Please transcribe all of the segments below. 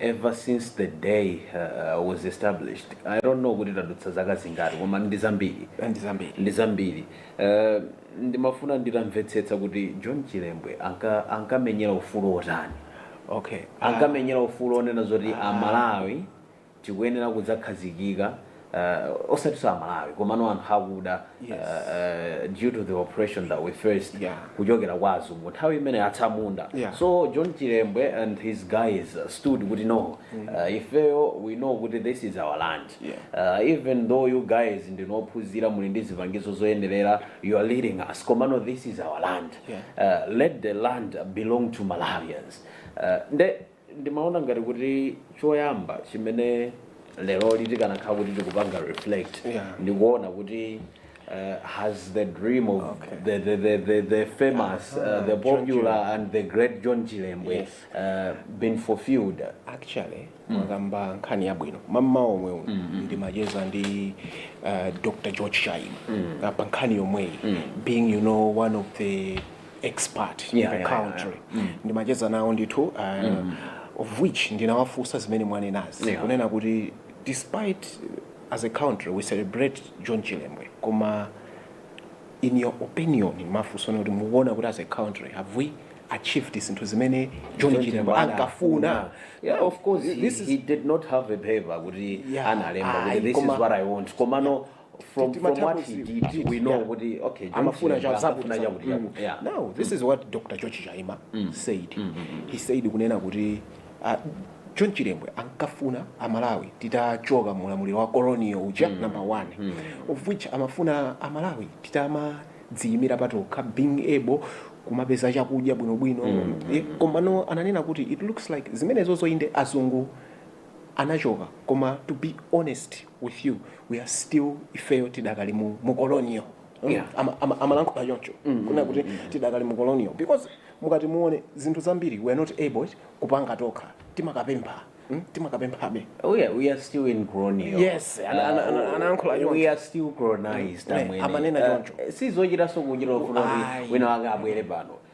ever since the day uh, was established i don't know kuti tadutsa zaka zingati koma ndi zambiri ndi zambiri ndi zambiri uh, ndimafuna nditamvetsetsa kuti john chilembwe anka- ankamenyera ufulu otani okay ankamenyera ufulu onena zoti amalawi tikuyenera kudzakhazikika uh, osatiso amalawi komano anthu akuda yes. uh, due to the oppression that we faced yeah. kuchokera kwa azungu nthawi imene atsamunda yeah. so john chilembwe and his guys stood kuti no mm. uh, ifeyo we know kuti this is our land yeah. uh, even though you guys ndinu ophunzira muli ndi zipangizo zoyenerera you are leading us komano this is our land yeah. uh, let the land belong to malawians uh, Ndimaona ngati kuti choyamba chimene lero likanakhala kuti tikupanga reflect Yeah. ndikuona kuti uh, has the dream of Okay. the, the, the, the, the famous uh, the John popular and the great John Chilembwe Yes. uh, been fulfilled actually mwakamba nkhani yabwino mmawa womwe uno ndimacheza ndi uh, dr george chaima pa nkhani yomweyi being you know one of the expert in Yeah, the yeah, yeah, country yeah. Mm. ndimacheza nawo ndithu uh, Mm. of which ndinawafunsa zimene mwanenazi Yeah. kunena kuti despite uh, as a country we celebrate john chilembwe koma in your opinion ndimafunsa kuti mukuona kuti as a country have we achieved zinthu zimene john John chilembwe Chilembwe ana- ankafuna ana. Yeah, of course, he, this is he did not have a paper kuti Yeah, analemba ayi, kuti this is koma- what I want. Komano from, Ti- from what timathapo he zi- did did, we know yeah. kuti okay John amafuna Chilembwe cha amafuna chakuti chakuti yeah. now this is what dr george chaima said he said kunena kuti uh, john chilembwe ankafuna amalawi titachoka mu ulamuliro wa colonial uja number one of which amafuna amalawi titamadziimira patokha being able kumapeza chakudya bwinobwino Eh, komano ananena kuti it looks like zimenezo zoinde azungu anachoka koma to be honest with you we are still ifeyo tidakali mu, mu colonial mm? yeah. ama, ama, amalankhula choncho mm -hmm. kunena kuti mm -hmm. tidakali mu colonial because mukati muone zinthu zambiri we are not able kupanga tokha timakapempha mm? timakapemphabe oh yeah we are still in colonial yes anayankhula uh, we are still colonized mm. amene amanena eh, choncho uh, sizochitaso kuchita kufuna wina wake abwere pano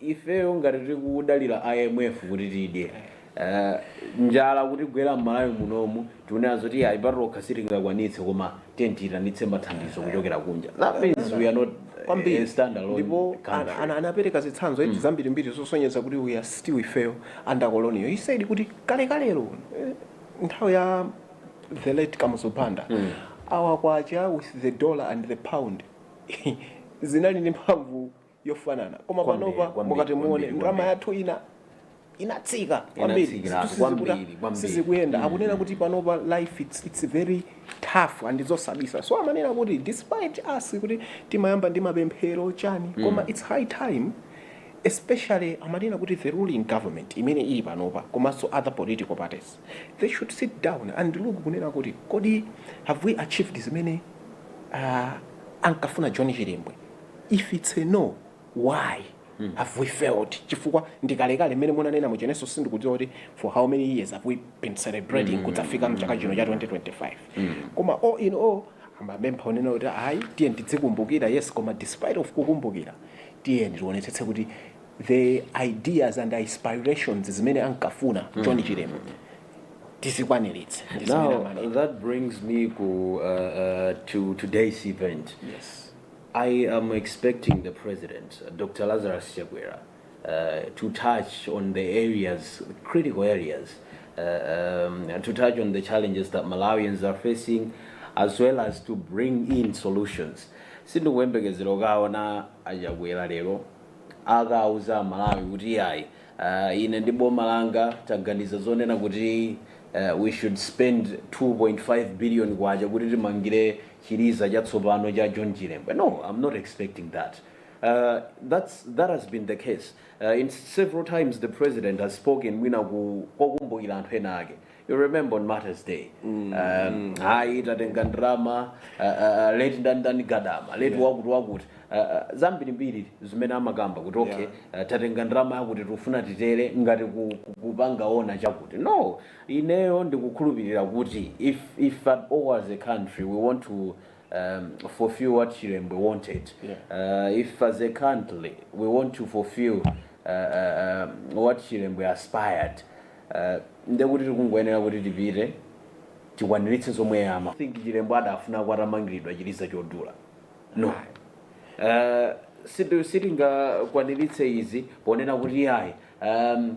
ifeyo ngati tikudalira imf kuti tidye eh, njala kutigwera mmalawi munomu tikunena zoti ayi patokha sitingakwanitse koma tiye tiyitanitse mathandizo kuchokera kunja that means we are not kwambiri a standalone ndipo ana- ana- country anapereka zitsanzo eti zambirimbiri zosonyeza kuti we are still ifeyo under colonial he said kuti kalekalero eh, nthawi ya the late kamuzu banda our kwacha with the dollar and the pound zinali ndi mphamvu yofanana koma panopa mukati muone ndalama yathu inatsika kwambiri sizikuyenda akunena kuti panopa life it's, it's very tough ndi zosabisa so amanena kuti despite us kuti timayamba ndi mapemphero chani koma it's high time especially amanena kuti the ruling government imene ili panopa komanso other political parties they should sit down and look kunena kuti kodi have we achieved zimene uh, ankafuna john chilembwe if it's a no why mm. have we failed chifukwa ndikalekale mmene munanena m'cheneso sindikudziwa kuti for how many years have we been celebrating mm. kudzafika mchaka chino cha 2025 mm. koma all in all amapempha kunena kuti ayi tiyeni tidzikumbukira yes koma despite of kukumbukira tiyeni tionetsetse kuti the ideas and aspirations zimene ankafuna mm. john chilembwe tizikwaniritse ndi zimene Now, amanena that brings me ku, uh, uh, to today's event. yes I am expecting the president, uh, Dr. Lazarus Chakwera, uh, to touch on the areas, critical areas, uh, um, and to touch on the challenges that Malawians are facing, as well as to bring in solutions. sindikuyembekezera ukaona achakwera lero akauza malawi kuti ayi Ine ndi boma langa taganiza zonena kuti we should spend K2.5 billion kuti timangire chiliza chatsopano cha John Chilembwe. No, I'm not expecting that. That's that has been the case in several times the president has spoken mwina pokumbukira anthu ena ake. You remember on Martyrs Day. Um, hayi tatenga ndrama uh, uh, late ndani ndani gadama late Yeah. wakuti wakuti uh, uh, zambirimbiri zimene amakamba kuti okay uh, tatenga ndrama yakuti tikufuna titere ngati ku- ku- kupanga honor chakuti no ineyo ndikukhulupirira kuti if, if at all as a country we want to um, fulfill what chilembwe wanted uh, if as a country we want to fulfill uh, uh, um, what chilembwe aspired Uh, ndekuti tikungoyenera kuti tipite tikwaniritse zomwe ama I think Chilembwe adafuna kuti atamangiridwa chiliza chodula no uh, siti- sitingakwaniritse izi ponena kuti ayi um,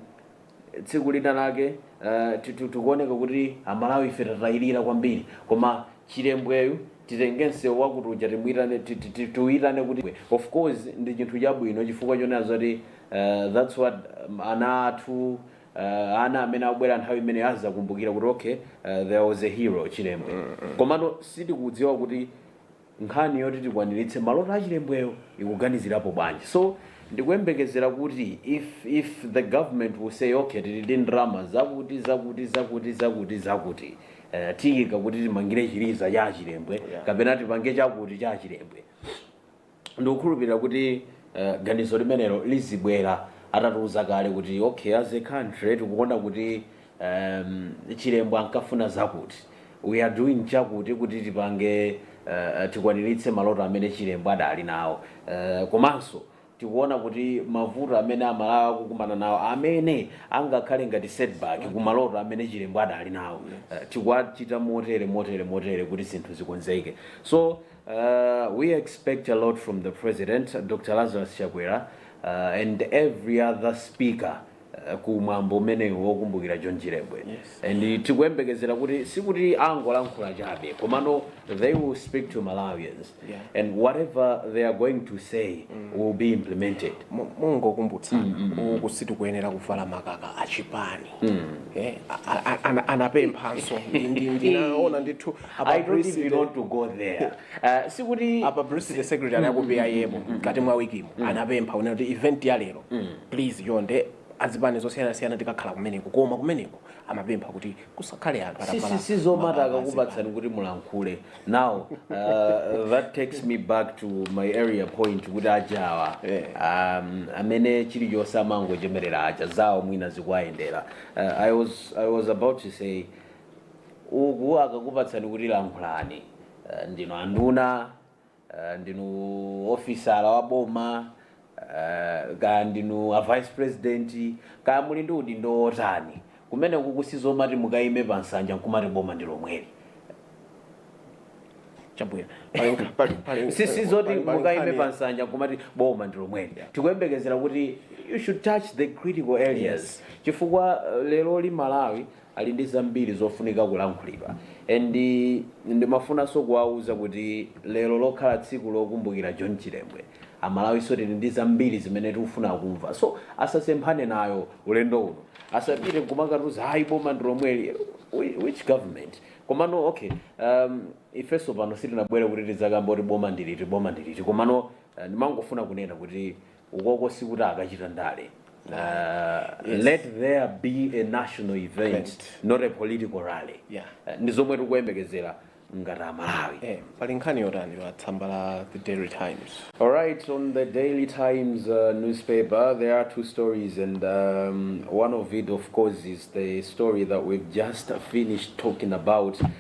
tsiku lina lake uh, titu- tikuoneka kuti amalawi ife tatayirira kwambiri koma chilembweyu titenge msewu wakuti uja timuyitane ti- ti- ti- tiuyitane kuti of course ndi chinthu chabwino chifukwa chonenazo kuti that's what ana athu ana amene abwera nthawi imene azakumbukira kuti okay uh, there was a hero chilembwe komano sitikudziwa kuti nkhani yoti tikwaniritse maloto achilembweyo ikuganizirapo bwanji so ndikuyembekezera kuti if if the government will say okay tili ndi ndalama zakuti zakuti zakuti zakuti zakuti uh, tiyika kuti timangire chiliza cha achilembwe kapena tipange chakuti cha achilembwe ndikukhulupirira kuti ganizo limenelo lizibwera atatiuza kale kuti okay as a country tikuona kuti um Chilembwe ankafuna zakuti we are doing chakuti kuti tipange uh, tikwaniritse maloto amene Chilembwe adali nawo uh, komanso tikuona kuti mavuto amene amalawi akukumana nawo amene angakhale ngati setback ku maloto amene Chilembwe adali nawo uh, tikuwachita motere motere motere kuti zinthu zikonzeke so Uh, we expect a lot from the president Dr. Lazarus Chakwera uh, and every other speaker uh, ku mwambo umenewu wokumbukira John Chilembwe Yes. and tikuyembekezera kuti sikuti angolankhula chabe komano they will speak to Malawians Yeah. and whatever they are going to say will be implemented Mo- mongokumbutsa uku sitikuyenera kuvala makaka achipani Eh, a- a- ana- anapemphanso Ndi- ndi- ndinaona ndithu A publicity I don't even want to go there. Uh, sikuti a publicity secretary a ku PIM mkati mwa wikimo anapempha kunena kuti event ya lero please chonde azipani zosiyanasiyana tikakhala kumeneko koma kumeneko amapempha kuti kusakhale anthu si atavala si si zomati makaka azipani. akakupatsani kuti mulankhule now uh, that takes me back to my earlier point kuti ajawa Eh. um, amene chilichonse amangochemerera aja zawo mwina zikuwayendera uh, I, was, i was about to say uku akakupatsani kuti lankhulani eh, ndinu anduna eh, ndinu ofisala wa boma eh, kaya ndinu a vice president kaya muli ndi udindo wotani kumenekuku sizomati mukayime pa nsanja nkumati boma ndi lomweli chabwino Pali- pali- pali- si si zoti pali- pali mukayime nkhani- pa nsanja nkumati boma ndi lomweli tikuyembekezera kuti you should touch the critical areas chifukwa eh, leroli Malawi ali ndi zambiri zofunika kulankhulidwa and ndimafunanso kuwauza kuti lero lokhala tsiku lokumbukira John Chilembwe amalawinso tili ndi zambiri zimene tikufuna kumva so asasemphane nayo ulendo uno asapite nkumakatiuza ayi boma ndi lomweli Whi- which government komano okay um, ifenso pano sitinabwere kuti tidzakamba kuti boma ndiliti boma ndiliti komano eh, ndimangofuna kunena kuti ukoko sikuti akachita ndale uh, yes. let there be a national event Event. not a political rally Yeah. Eh, ndi zomwe tikuyembekezera ngati amalawi eh, pali nkhani yotani pa tsamba la the daily times All right, on the Daily Times uh, newspaper, there are two stories, and um, one of it, of course, is the story that we've just finished talking about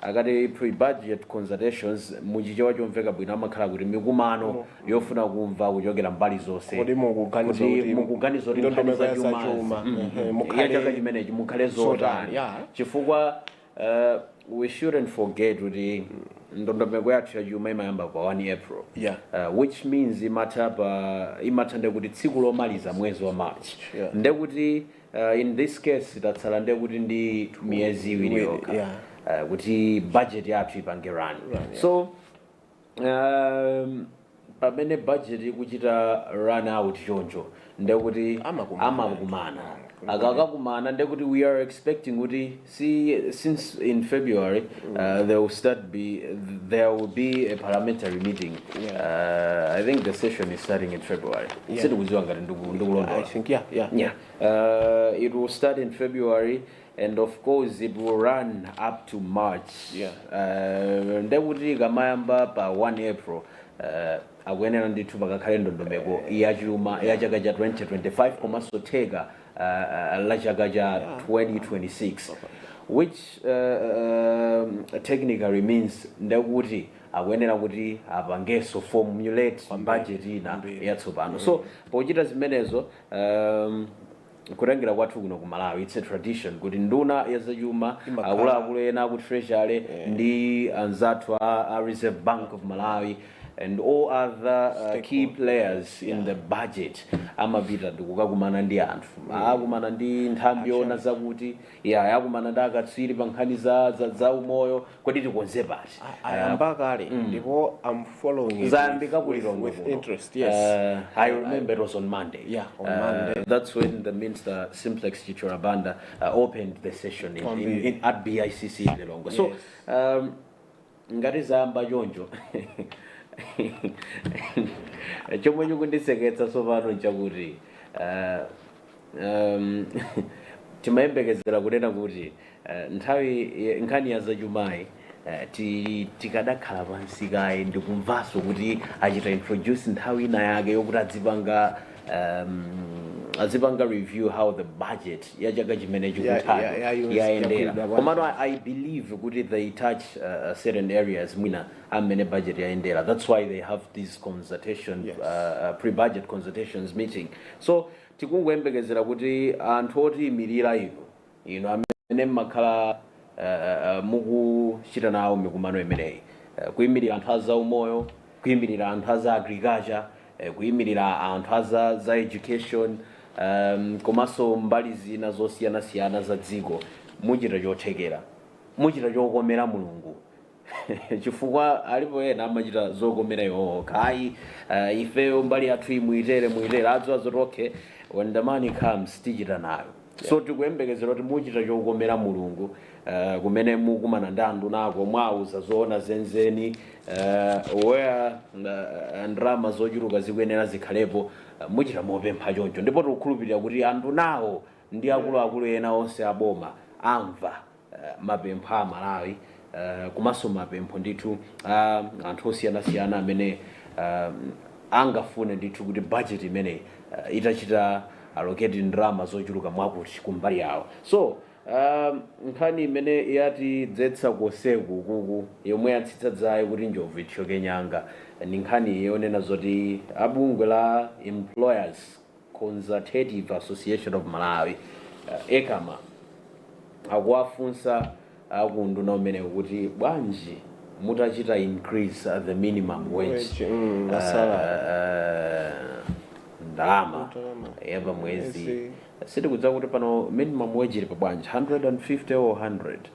Akati pre-budget consultations mu Chichewa chomveka bwino amakhala kuti mikumano yofuna kumva kuchokera mbali zonse Kodi mukuganiza kuti kuti mukuganiza kuti nkhani ndondomeko ya zachuma zachuma, mhm, ehe, ya mukhale- chaka chimenechi mukhale zotani, zotani yeah. chifukwa uh, we shouldn't forget kuti ndondomeko yathu yachuma imayamba pa 1 april Yeah. uh, which means imatha pa imatha ndekuti tsiku lomaliza mwezi wa march Yeah. ndekuti Uh, in this case tatsala ndekuti ndi miyezi iwiri Iwiri, yokha yeah. uh, kuti budget yathu ipange run Run, yeah. so um, pamene budget ikuchita run out choncho ndekuti Amakumana. amakumana akakakumana ndekuti we are expecting kuti si since in february uh, there will start be there will be a parliamentary meeting uh, i think the session is starting in february Yeah. sitikuziwa ngati ndiku- i ndikulondola think yeah yeah yeah uh, it will start in february and of course it will run up to march Yeah. uh, ndekuti kamayamba pa 1 april uh, akuyenera ndithu pakakhale ndondomeko yachuma ya chaka cha 2025 komanso theka la chaka cha 2026 which technically means ndekuti akuyenera kuti apangenso formulate budget ina yatsopano so pochita zimenezo um, kutengera kwathu kuno ku malawi its a tradition kuti nduna yazachuma akuluakulu ena aku treasury ndi anzathu a, a reserve bank of malawi and all other uh, key players in the budget amapita ndikukakumana ndi anthu akumana ndi nthambi yoona zakuti yakumana ndi akatswiri pa nkhani za, za, za umoyo kodi tikonze pati ayamba kale ndipo i'm following it zayambika with- ku Lilongwe with kuno. interest yes Uh, I remember it was on Monday. Yeah, on Uh, Monday. That's when the minister Simplex Chithyola Banda uh, opened the session in, On in, the- in, at BICC in Lilongwe. So Yes. um, ngati zayamba choncho chomwe chikundiseketsa tsopano nchakuti uh, um, timayembekezera kunena kuti uh, nthawi eh, nkhani ya zachumayi uh, ti- tikadakhala pansi kaye ndikumvanso kuti achite introduce nthawi ina yake yokuti adzipanga um, azipanga review how the budget ya chaka chimene ya- ya- chikuthayo yayendera bwanji. komano I, i believe kuti they touch uh, certain areas mwina a mmene budget yayendera that's why they have these consultation Yes. uh, uh, pre-budget consultations meeting so tikungoyembekezera kuti anthu otiyimirira inu Inu amene mmakhala mukuchita nawo mikumano imeneyi, kuimirira anthu a zaumoyo, kuimirira anthu a za agriculture, kuimirira anthu a za za education komanso mbali zina zosiyanasiyana za dziko, muchita chothekera, muchita chokomera Mulungu chifukwa alipo ena amachita zokomera iwo okha ai uh, ifeyo mbali yathu iyi muitere muitere adziwa zoti okay when the money comes tichita nayo so tikuyembekezera kuti muchita chokomera mulungu uh, kumene mukumana ndi andunako mwawauza zoona zenizeni uh, where uh, ndalama zochuluka zikuyenera zikhalepo uh, muchita mopempha choncho ndipo tikukhulupirira kuti andunawo ndi akuluakulu ena onse aboma amva mapempho a Malawi komanso mapempho ndithu a anthu osiyanasiyana amene angafune ndithu kuti bajeti imeneyi itachita allocate ndalama zochuluka mwakuti kumbali yawo. So, nkhani imene yatidzetsa konseku ukuku, yomwe yatsitsa dzaye kuti njovu ithyoke nyanga, ndi nkhani yonena zoti a bungwe la Employers Consultative Association of Malawi, Ecama, akuwafunsa a ku unduna umenewu kuti bwanji mutachita increase the minimum wage Wage, mm, uh, salary. uh, ndalama Ndalama. ya pa mwezi Mwezi. sitikudziwa kuti pano minimum wage ili pa bwanji 150 or 100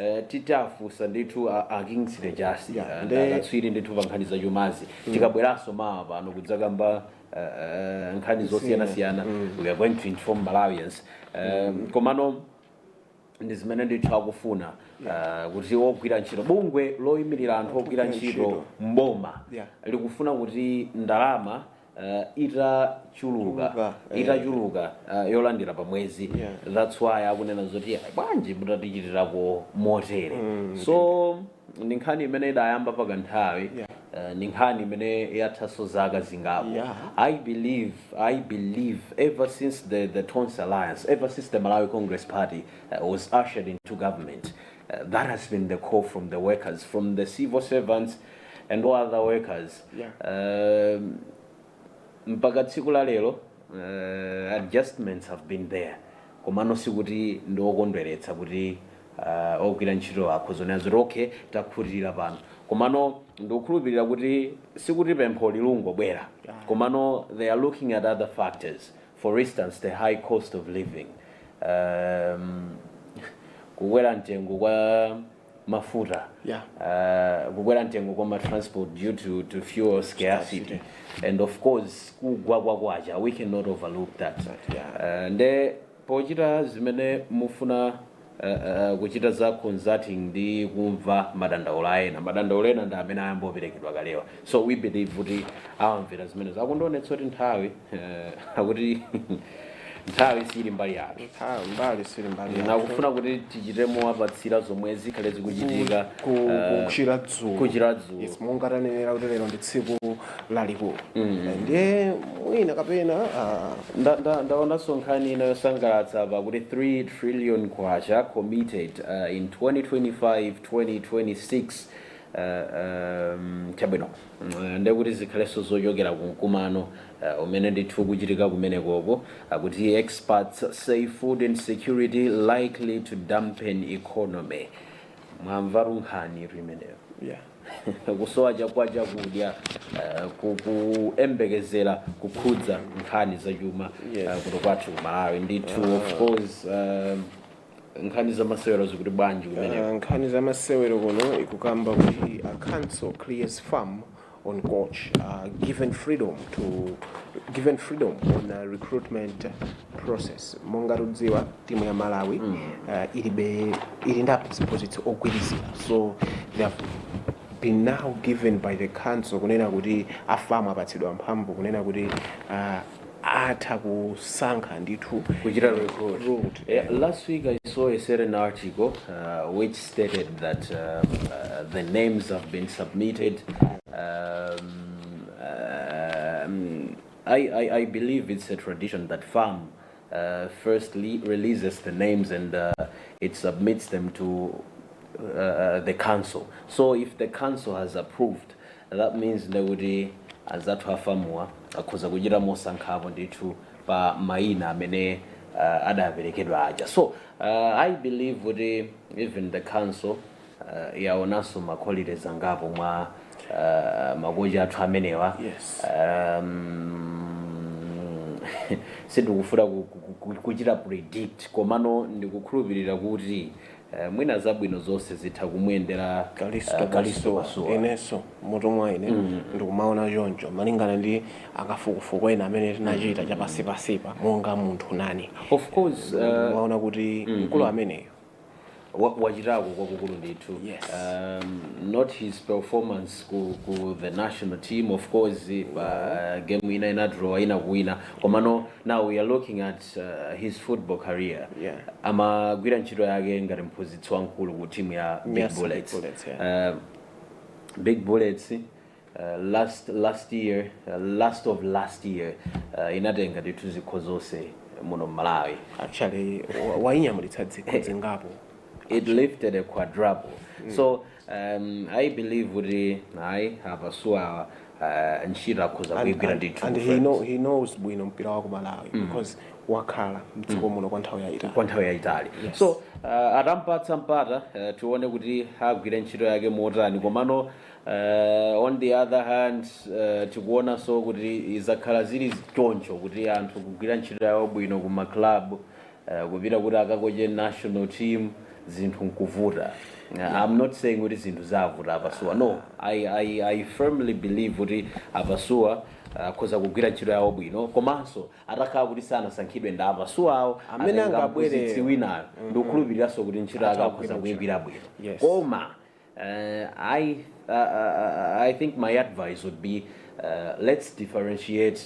Eh, tidzafunsa ndithu a, a Kingsley Jasi Yeah, yeah, ndi akatswiri ndithu pa nkhani za chumazi tikabweranso mawa pano kudzakamba eh, eh, nkhani zosiyanasiyana we are going to inform Malawians Eh, komano ndi zimene ndithu akufuna eh, kuti ogwira ntchito bungwe loyimirira anthu ogwira Ogwira ntchito ntchito. mboma Yeah. likufuna kuti ndalama uh, itachuluka Chuluka, eh. itachuluka uh, yolandira pa mwezi Yeah. that's why akunena zoti "Ah, bwanji mutatichitirako motere so ndi nkhani imene idayamba pakanthawi Yeah. uh, ndi nkhani imene yathanso zaka zingapo Yeah. i believe i believe ever since the, the Tonse Alliance ever since the Malawi Congress Party uh, was ushered into government that has been the call from the workers, from the civil servants and all other workers. Yeah. Um, mpaka tsiku la lero uh, adjustments have been there komano sikuti ndi okondweretsa kuti uh, ogwira ntchito akhoza kunena zoti okay takhutira pano komano ndikukhulupirira kuti sikuti pempho lilungobwera komano they are looking at other factors for instance the high cost of living um, kukwera mtengo kwa mafuta Yeah. uh, kukwera mtengo kwa matransport due to, to fuel scarcity and of course kugwa kwa kwacha we cannot overlook that Exactly, uh, nde pochita zimene mufuna Kuchita za consulting ndi kumva madandaulo a ena. Madandaulo ena ndi amene ayamba kuperekedwa kalewa. So we believe kuti awamvera zimenezo. Akundionetsa kuti nthawi akuti nthawi siili mbali yathu. Nthawi mbali sili mbali yathu. Akufuna kuti tichite mowapatsira zomwe zikhale zikuchitika Ku- ku- kuchokera dzulo. kuchokera dzulo. Yes, monga tanenera kuti lero ndi tsiku lalikulu ndiye mwina kapena ah, Nda- nda- ndaonanso nkhani ina yosangalatsa apa kuti 3 trillion kwacha committed uh, in 2025 2026 uh, um, chabwino Mm, ndekuti zikhalenso zochokera ku mkumano uh, umene ndithu ukuchitika kumenekoko akuti experts say food insecurity likely to dampen economy mwamvatu nkhani imeneyo yeah. kusowa chakwa chakudya eh, ku- kuyembekezera kukhudza nkhani zachuma Yes. eh, kuno kwathu ku malawi ndithu of course eh, nkhani zamasewero zikuti bwanji kumeneko Uh, nkhani za masewero kuno ikukamba kuti a council clears FAM on coach uh, given freedom to given freedom on uh, recruitment process monga tudziwa timu ya malawi mm. uh, ilibe ili ndi aphunzitsi ogwirizira so they have been now given by the council kunena kuti a FAM apatsidwa mphamvu kunena kuti uh, atha kusankha ndithu kuchita recruit eh, last week i saw a certain article uh, which stated that uh, uh, the names have been submitted um, I, I, I believe it's a tradition that farm uh, firstly releases the names and uh, it submits them to uh, the council. So if the council has approved, that means ndekuti anzathu afamuwa akhoza kuchita mosankhapo ndithu pa maina amene uh, adaperekedwa aja. So uh, I believe kuti even the council yaonanso ma qualities angapo mwa makocha athu amenewa yes sindikufuna kuchita predict komano ndikukhulupirira kuti mwina zabwino zonse zitha kumuyendera kalisto pasuwa inenso mmutu mwa ine ndikumaona choncho malingana ndi akafukufuku ena amene tinachita chapasipasipa monga munthu nane of course uh, maona kuti mkulu ameneyo wa- wachitako kwakukulu ndithu Yes. um, not his performance ku, ku the national team of course game ina inadraw inakawina komano now we are looking at uh, his football career Yeah. amagwira ntchito yake ngati mphunzitsi wamkulu ku timu ya big Yes, Big bullets, Bullets, Uh, big bullets Uh, last last year uh, last of last year uh, inatenga ndithu zikho zonse muno mmalawi actually wa- wainyamulitsa zikho zingapo it lifted a quadruple so um, i believe kuti a pasuwa uh, ntchito akhoza And- kuigwira and- ndithu and he, friends. know, he knows bwino mpira wa ku malawi because wakhala mdziko muno kwa nthawi yayitali kwa nthawi yayitali so uh, atampatsa mpata uh, tione kuti agwire ntchito yake motani komano Uh, on the other hand uh, tikuonanso kuti izakhala zili choncho kuti anthu kugwira ntchito yawo bwino ku maclub uh, kupita kuti akakoche national team zinthu nkuvuta uh, i'm not saying kuti zinthu zavuta a pasuwa no i, I, I firmly believe kuti a pasuwa akhoza kugwira ntchito yawo bwino komanso atakhala kuti sanasankhidwe ndi a pasuwa awo Amene atenga angabwere- mphunzitsi winayo ndikukhulupiriranso kuti ntchito yake akhoza kuyigwira bwino Yes. koma I, I, I think my advice would be uh, let's differentiate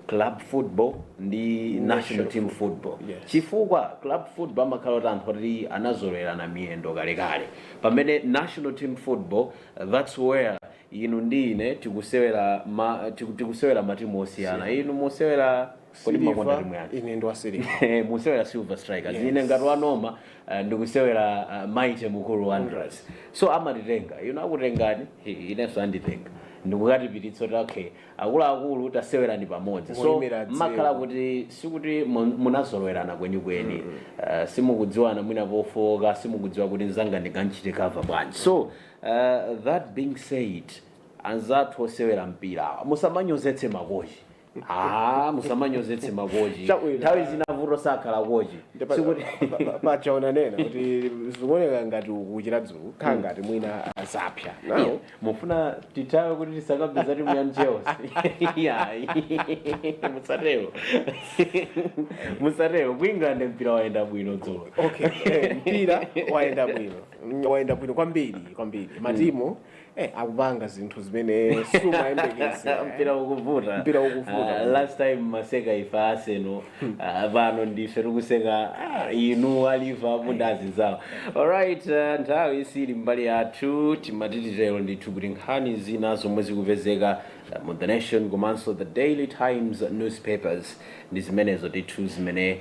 club football ndi national team football Yes. chifukwa club football amakhala ati anthu oti anazolowelana miyendo kalekale pamene national team football uh, that's where inu ndi ine tikusewera ma, tiku- tikusewera matimu osiyana inu musewera Kodi mumakonda Silver, timu yake? ine ndi wa silver Eh, musewera silver strikers Yes. ine ngati wanoma eh, ndikusewera eh, mighty mukuru wanderers so amatitenga inu akutengani eh, inenso anditenga ndikukatipititsa kuti okay akuluakulu tasewerani pamodzi so Mulimira dziko. mmakhala kuti sikuti mu- munazolowerana kwenikweni Eh, simukudziwana mwina pofooka simukudziwa kuti nzanga ndikamuchite cover bwanji so eh, that being said anzathu osewera mpira awa, musamanyozetse makochi Ah, musamanyozetse makochi Chabwino. nthawi zina vuto sakhala kochi Ndipo- sikuti pa- pa- paja munanena kuti zikuoneka ngati wokuchira dzulo khala ngati mwina azapsa nawo mufuna tithawe kuti tisakabweza timu ya chelsea ayi musatero musatero ku england mpira wayenda bwino dzulo okay eh, mpira wayenda bwino Mm, wayenda bwino kwambiri kwambiri matimu eh, akupanga zinthu zimene sumayembekeza mpira ukuvuta Mpira ukuvuta. Ah, last time maseka ife aseno ah, pano ndife tikuseka ah, inu a liverpool ndi anzawo alright uh, nthawi isili mbali yathu timati titero ndithu kuti nkhani zina zomwe zikupezeka ah, mu the nation komanso the daily times newspapers ndi zimenezo ndithu zimene